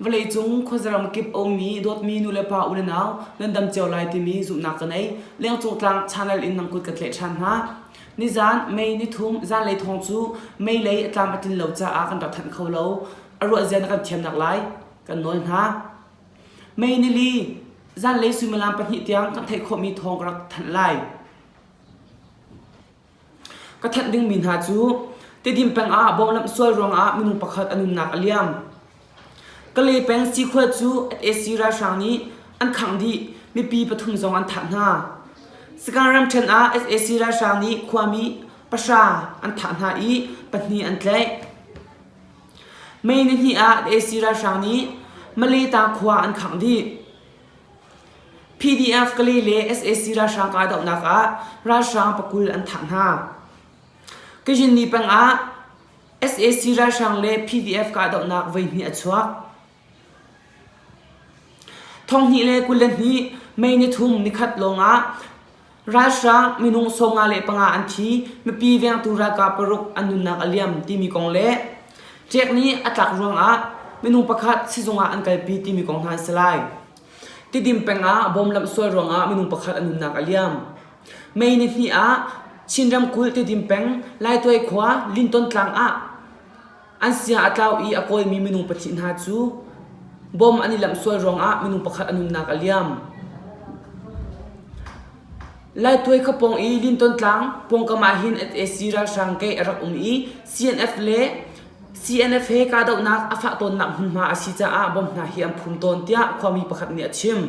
Vawleicung khuazaram kip aumi dawtmi nulepa unenau nan dam cio lai timi zumhnak ka nei. Lengcung tlang channel in nang kut ka tleh ṭhan hna. Nizan May nithum zanlei thong cu May lei a tlam a tlin lo caah kan rak thanh kho lo. A ruah zia na kan thiamnak lai kan nawl hna. Mei ni li zanlei suimilam pahnih tiang kan theih khawhmi thawng ka rak thanh lai. Ka thanh dingmi hna cu Tedim peng ah bawnglamh sual ruangah minung pakhat an umnak a liam. Kale peng sikhua cu SAC ralhrang nih an khangh dih, mipi pathum zong an thah hna. Sakang ramṭhen ah SAC ralhrang nih khuami pahra an thah hna i pahnih an tlaih. Mei nihnih ah AC ralhrang nih Maleta khua an khangh dih. PDF Kale le sac ralhrang kahdohnak ah ralhrang pakul an thah hna. Kazhinni peng ah sac ralhrang le PDF kahdohnak voihnih a chuak. Thonghnih le kul le hnih May nithum nikhat lawngah ralhrang minung sawmnga le panga an thi, mipi vengtu ralkap paruk an nunnak a liam timi kong le ṭek nih a tlak ruangah minung pakhat sizung ah an kalpi timi kong hna an si lai. Tidim peng ah bom lamhsual ruangah minung pakhat a nunnak a liam. May ni hnih ah Chin ramkulh Tidim peng Laituai khua Linton tlang ah An sia a tlau i a kawimi minung pahnih hna cu bom an i lamh sual ruangah minung pakhat an umnak a liam. Laituai khapong i Linton tlang pawngkam ah hin NAC ralhrang ke a rak um i CNF le CNF he kahdohnak a fah tawnnak hmunhma a si caah bomb hna hi an phum tawn tiah khuami pakhat nih a chim.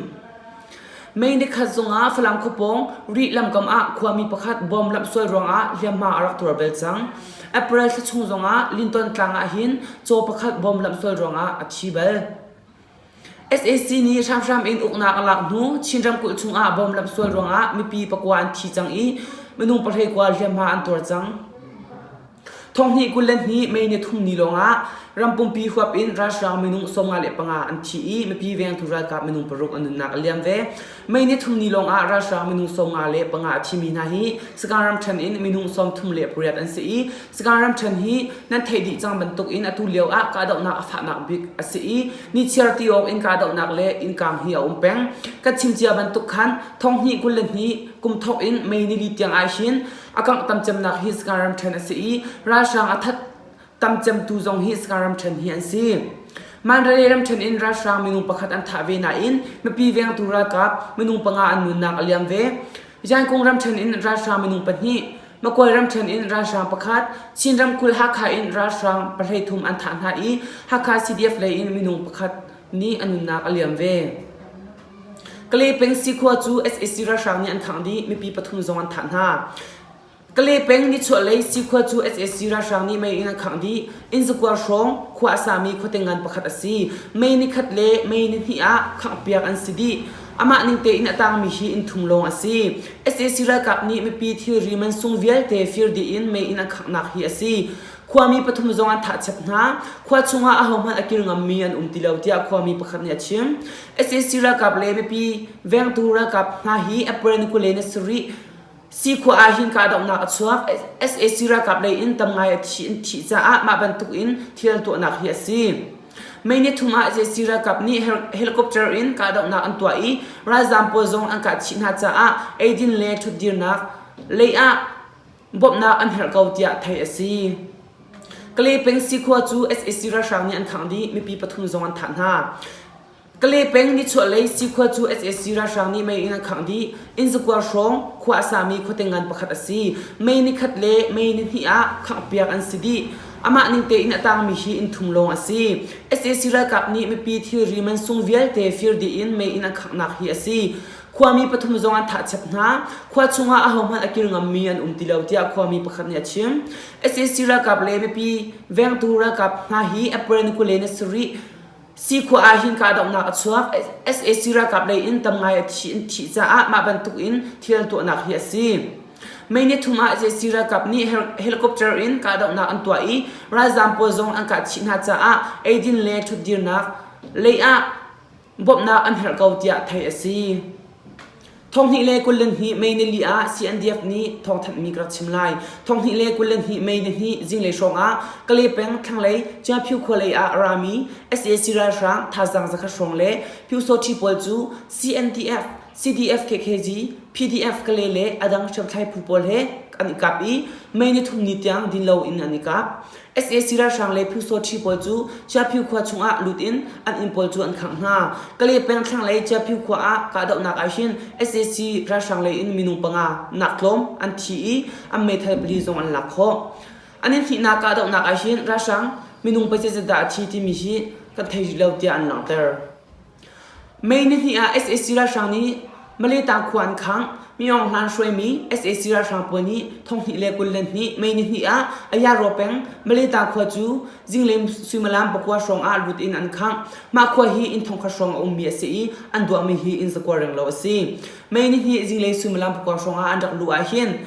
Mei nikhat zongah Falam khuapawng Rih lamkam ah khuami pakhat bom lamhsuai ruangah hliamhma a rak tuar bel cang. April thla chung zongah Linton tlang ah hin caw pakhat bom lamhsuai ruangah a thi bal. SAC nih hramhram in uknak a lak hnu Chin ramkulh chungah bom lamhsuai ruangah mipi pakua an thi cang i minung pahlei kua hliamhma an tuar cang. Thonghnih kul le hnih May ni thum ni lawngah rampumpi huap in ralhrang minung sawmnga le panga an thi i mipi vengtu ralkap minung paruk an nunnak a liam ve. May ni thum ni lawngah ralhrang minung sawmnga le panga a thimi hna hi Sagaing ramthen in minung sawmthum le pariat an si i Sagaing ramthen hi nan theih dih cang bantuk in atu lio ah kahdohnak a fahnak bik a si i nichiar ti awk in kahdohnak le innkang hi a um peng. Kan chim cia bantuk khan thonghnih kul le hnih kum thawk in May nili tiang ah hin A kanghtam cemnak hi Skan ramṭhen a si i ralhrang a that tam cemtu zong hi Skan ramṭhen hi an si. Mandalay ramṭhen in ralhrang minung pakhat an thah ve nain mipi vengtu ralkap minung panga an nunnak a liam ve. Yangon ramṭhen in ralhrang minung pahnih, Makuai ramṭhen in ralhrang pakhat, Chin ramkulh Hakha in ralhrang pahlei thum an thah hna i Hakha CDF lei in minung pakhat nih a nunnak a liam ve. Kalepeng sikhua cu sac ralhrang nih an khangh dih. Mipi pathum zong an thah hna. Kalepeng nichuahlei sikhua cu sac ralhrang nih mei in an khangh dih. Innzakuar hrawng khua a sami khuate ngan pakhat a si. Mei ni khat le mei ni hnih ah khanghpiak an si dih. Amah ning tein a tangmi hi inn thum lawng a si. Sac ralkap nih mipi thilri mansung vialte fir dih in mei in an khanghnak hi a si. Khuami pathum zong an thahchep hna. Khua chungah ahohmanh a kir ngammi an um ti lo tiah khuami pakhat nih a chim. SAC ralkap le mipi vengtu ralkap hna hi April ni kule na sarih Sikhua ah hin kahdohnak a chuak. SAC ralkap lei in tam ngai a thi an thih caah mah bantuk in thil an tuahnak hi a si. May ni thum ah SAC ralkap nih helicopter in kahdohnak an tuah i ralzaam pawl zong an kah chih hna caah eidin le ṭhutdirnak lei ah bawmhnak an herh ko tiah theih a si. Kalepeng sikhua cu SAC ralhrang nih an khangh dih mipi pathum zong an thah hna. Kalepeng nichuahlei sikhua cu SAC ralhrang nih mei in an khangh dih. Innzakuar hrawng khua a sami khuate ngan pakhat a si. Mei ni khat le mei ni hnih ah khanghpiak an si dih. Amah ning tein a tangmi hi inn thum lawng a si. SAC ralkap nih mipi thilri mansung vialte fir dih in mei in an khangh hi a si. Khuami pathum zong an thah chap hna. Khua chungah ahohmanh a kil ngammi an um ti lo tiah khuami pakhat nih a chim. SAC ralkap le mipi vengtu ralkap hna hi April ni kule ni sarih sikhua ah hin kahdohnak a chuak. SAC ralkap lei in tam ngai a thi in thih caah mah bantuk in thil tuahnak hi a si. May ni thum ah SAC ralkap nih helicopter in kahdohnak an tuah i ralzaam pawl zong an kah chih hna caah eidin le ṭhutdirnak lei ah bawmhnak an herh ko tiah theih a si. Thonghnih le kul le hnih mei ni li ah CNDF nih thawngthanhmi ka rak chim lai. Thonghnih le kul le hnih mei ni hnih zinglei hrawng ah Kale peng thlanglei Ciaphiu khualei ah rami SAC ralhrang thazaang zakhat hrawng le Pyusawṭhi pawl cu CNDF, CDF KKG, PDF Kale le a dang hriamthlai phu pawl he an i kap i mei ni thum ni tiang din lo in an i kap. sac ralhrang le phyusawṭhi pawl cu Chiaphu khua chungah lut in an inn pawl cu an khangh hna. Kale peng thlang le Chiaphu khua ah kahdohnak ah hin sac ralhrang lei in minung panga nak tlawm an thi i an meithal pali zong an lak khawh. An in hnihnak kahdohnak ah hin ralhrang minung paizat dah a thi timi hi kan thei rih lo tiah an langhter. May nihnih ah sac ralhrang nih Maleta khua an khangh. Mi Aung Hlan hruaimi sac ralhrang pawl nih thonghnih le kul le hnih May nihnih ah Ayaraw peng Maleta khua cu zingleng suimilam pakua hrawng ah lut in an khangh. Mah khua hi inn thongkhat hrawng a ummi a si i an duahmi hi inn zakua renglo a si. May nihnih zingleng suimilam pakua hrawng ah an rak luh ahhin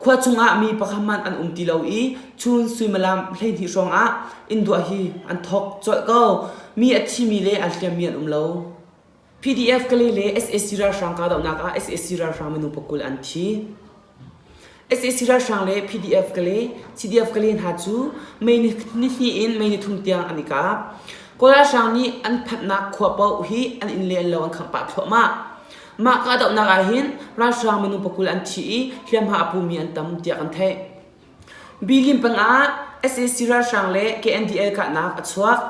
khua chungah mi pakhat hmanh an um ti lo i chun suimilam hleihnih hrawngah innduah hi an thawk colh ko mi a thimi le an hliammi an um lo PDF Kale le SAC ralhrang kahdohnak ah SAC ralhrang minung pakul an thi SAC ralhrang le PDF Kale CDF Kale hna cu May nihni in May nithum tiang an i kap kawl ralhrang nih an phanhnak khua paoh hi an inn le lo an khangh pah thluahmah Mah kahdohnak ah hin ralhrang minu pakul an thi i hliamhma a pumi an tam tiah kan theih. Bilim pangah SAC ralhrang le KNDL kahnak a chuak.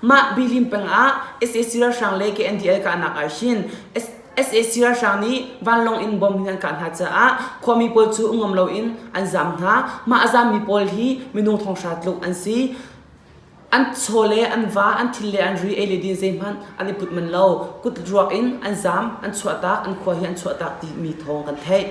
Mah bilim pangah SAC ralhrang le KNDL kahnak ah hin SAC ralhrang nih vanlawng in bom hin an kah hna caah khuami pawl cu ungam loin an zaam hna. Mah a zaammi pawl hi minung thonghra tluk an si. An chaw le an va, an thil le an ri ei le din zeihmanh an i put man lo. Kut ruak in an zaam, an chuahtak, an khua hi an chuahtak timi thawng kan theih.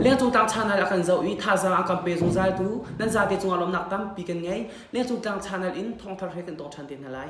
Lengcung tlang channel a kan zoh i thazaang a kan pe zungzaltu nan zate cungah lawmnak tampi kan ngei. Lengcung tlang channel in thawngthar he kan tong ṭhan te hna lai.